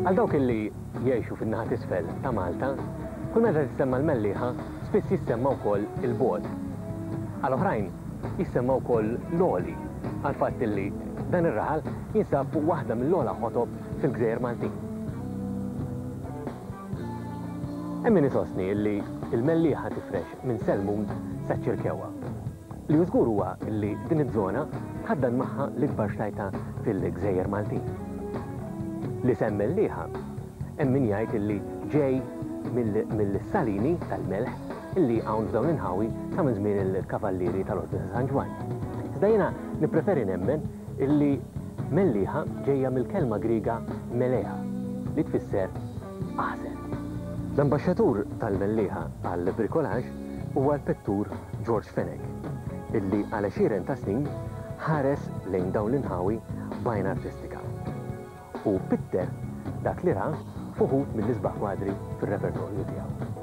Għal dawk illi jgħixu fin-naħa t'isfel ta' Malta, kull meta tissemma l-Mellieħa spiss jissemma wkoll il-bogħod. Għal oħrajn jissemma wkoll l-għoli għall-fatt illi dan ir-raħal jinsab fuq waħda mill-ogħla ħotob fil-gżejjer Maltin. Hemm min isostni illi l-Mellieħa tifrex minn Selmun saċ-Ċirkewwa. Li hu żgur huwa li din iż-żona tħaddan magħha l-ikbar xtajta fil-gżejjer Maltin. L-isem Mellieħa hemm min jgħid li ġej mill-salini tal-melħ li hawn f'dawn l-inħawi sa minn żmien il-Kavallieri tal-Ordni ta' San Ġwann. Iżda jiena nippreferi nemmen li Mellieħa ġejja mill-kelma Griega melea li tfisser aħżen. L-ambaxxatur tal-Mellieħa għall-bricolaġ huwa l-pittur George Fenech, illi għal għexieren ta' snin ħares lejn dawn l-inħawi b'għajn artistika. Hu pitter dak li ra f'uħud mill-isbaħ kwadri fir-repertorju tiegħu.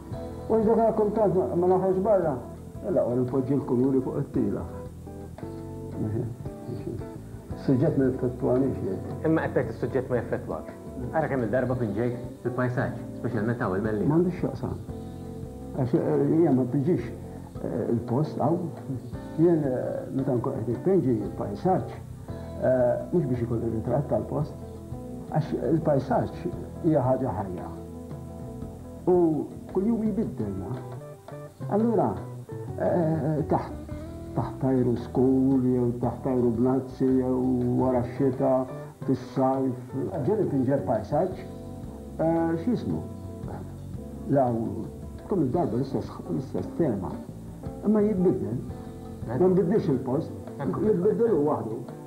Wara dak rakkuntat ma noħroġ barra. Mela ora npoġġi l-kuluri fuq it-tila. Is-suġġett ma jeffettwanix jgħid. Imma qed tgħid is-suġġett ma jeffettwakx. Ara kemm il-darba pinġejt fil-pajsaġġ, speċjalment hawn il-Mellieħa. M'għandux x'jaqsam. Għax hija ma tpinġix il-post hawn. Jien meta nkun qed nipinġi pajsaġġ, mhux biex ikolli ritratt tal-post, għax il-pajsaġġ hija ħaġa ħajja. U kuljum jbiddel, naf. Allura, taħt taħt ajru skur jew taħt ajru bnazzi jew wara x-xita, fis-sajf. Ġieli tinġeb pajsaġġ, x'jismu, law tkun id-darba l-istess tema, imma jitbiddel. Ma nbiddilx il-post, jitbiddel hu waħdu.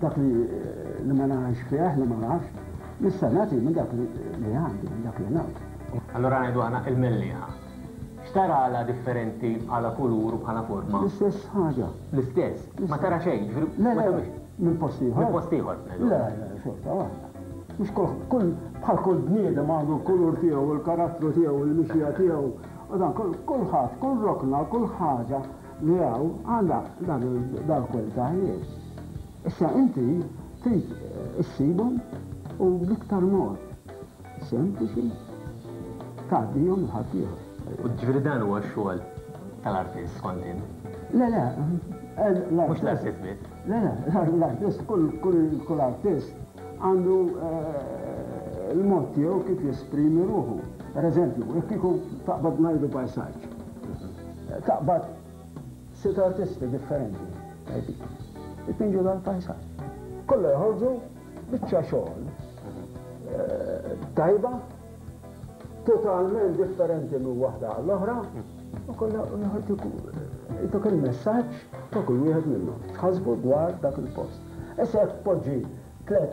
Dak li li ma ngħix fih, li ma nafx, nista' nagħti minn dak li li għandi, minn dak li ngħodd. Allura ngħidu aħna il-mellieħa. X'tara għala differenti, bħala kulur u bħala forma? L-istess ħaġa. L-istess? Ma tara xejn, ġifieri ma Le, le, tagħmilx. minn post ieħor. Minn post ieħor b'nejdu. Le, le, xorta waħda. Mhux kull, kull, bħal kull bniedem għandu l-kulur tiegħu, il-karattru tiegħu, il-mixja tiegħu, u dan, kull, kulħadd, kull rokna, kull ħaġa, li hawn għala dal-kwell ta' ħjiel. Issa inti trid issibhom u bl-iktar mod sempliċi tgħaddihom lil ħaddieħor. Jiġifieri dan huwa x-xogħol tal-artist kont int? Le le. Mhux l-artist biss. Le le, l-artist kull artist għandu l-mod tiegħu kif jesprimi ruħu. Pereżempju, jekk kieku taqbad ngħidu pajsaġġ. Taqbad sitt artisti differenti tajbin ipinġu dan il-pajsaġġ. Kollha joħorġu biċċa xogħol tajba, totalment differenti minn waħda għall-oħra, u kollha joħorġu jtuk il-messaġġ ta' kull wieħed minnhom, x'ħasbu dwar dak il-post. Issa jekk tpoġġi tliet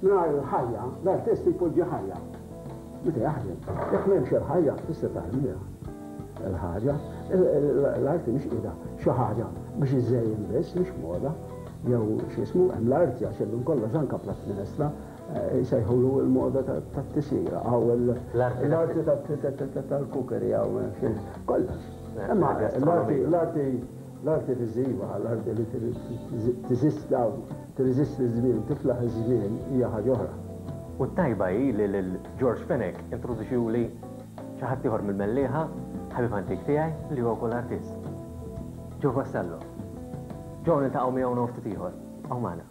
Mingħajr il-ħajja, l-artist jpoġġi ħajja meta jaħdem. Jekk m'hemmx il-ħajja, tista' tarmiha l-ħaġa. L-arti mhix qiegħda xi ħaġa biex iżżejjen biss, mhix moda jew x'ismu, hemm l-arti għax hemm minn kollox anke platt minestra jsejħulu l-moda tat-tisjira hawn l-arti tal-kukeri hawn kollox. Imma l-arti viżiva, l-arti li tiżisti hawn. Tirreżisti ż-żmien, tiflaħ iż-żmien hija ħaġa oħra. U t-tajba hi li lil George Fenech introduċiuli xi ħadd ieħor mill-Mellieħa, ħabib antik tiegħi li huwa wkoll artist. Joe Vassallo. Joe niltaqgħu miegħu hawn ftit ieħor. Hawn magħna.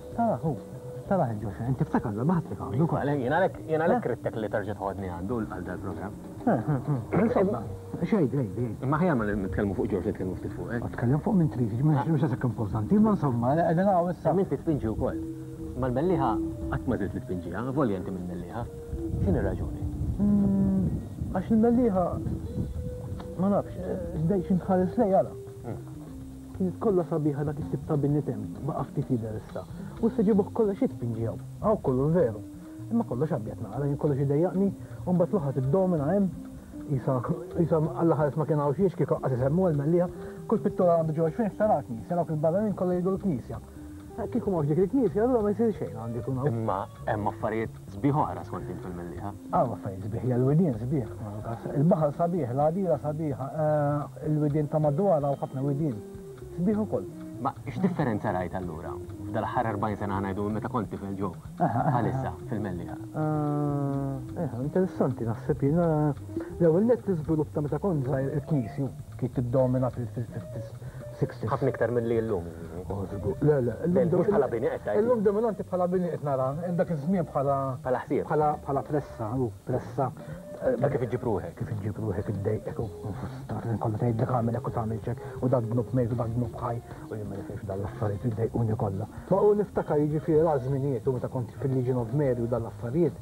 Taraħ hu, taraħ il-ġuxa, inti ftakar li ma ħadd li għandu. Jien għalhekk rittek li terġa' tħodni għandu għal dal-programm. Insomma, xejn, xejn. Imma ħjar ma nitkellmu fuq Ġorġ nitkellmu ftit fuq hekk. Tkellem fuq minn trid, mhux għasek importanti, imma insomma, qegħdin hawn issa. Inti tpinġi wkoll. Ma l-mellieħa qatt ma żilt li tpinġiha, volja inti minn mellieħa. X'in ir-raġuni? Għax il-mellieħa ma nafx, dejjem xi tħares lejha. Kienet kollha sabiħa dak it-tip ta' bini temm, baqa' ftit jidher issa. U issa ġibuh kollha xi tpinġi hawn? Hawn kollu l-veru. Imma kollox abjad nara, jien kollox idejjaqni, u mbagħad l-oħra tiddomina hemm, qisha, qisha Alla ħares ma kien hawn xiex, kieku aqqas isemmuha l-mellieħa. Kull pittura għandu ġewwa xfejn ħtaratni, issa dawk il-barranin kollha jridu l-knisja. Kieku m'hawnx dik il-knisja, allura ma jsir xejn għandu jkun hawn. Imma hemm affarijiet sbieħ oħra skont int fil-Mellieħa. Hawn affarijiet sbieħ, hija l-widien sbieħ. Il-baħar sabiħ, l-għadira sabiħa, il-widien ta' madwar hawn ħafna widien sbieħ ukoll. Ma x'differenza rajt allura f'dal-aħħar 40 sena ħa ngħidu minn meta kont tifel ġo għal issa fil-Mellieħa? Interessanti naħseb jien. L-ewwel nett l-iżvilupp ta' meta kont żgħir il-knisju kienet tiddomina fil-fil-fil-fil. 60s. Ħafna iktar milli llum, jiġifieri. O żgur, le, le. Le, mhux bħala bini qed tgħid. Illum dominanti bħala bini qed nara, dak iż-żmien bħala. Bħala ħsieb. Bħala pressa, hu, pressa. Ta' kif iġġib ruħek. Kif iġġib ruħek, iddejqek u fustar, l-ħin kollu tgħidlek agħmel hekk u tagħmel x'hekk, u dak dnub mejt u dak dnub ħaj, u jien ma nifhimx f'dawn l-affarijiet li jdejquni kollha. Ma u niftakar jiġifieri l-agħar żminijiet u meta kont fil-Legion of Mary u dawn l-affarijiet,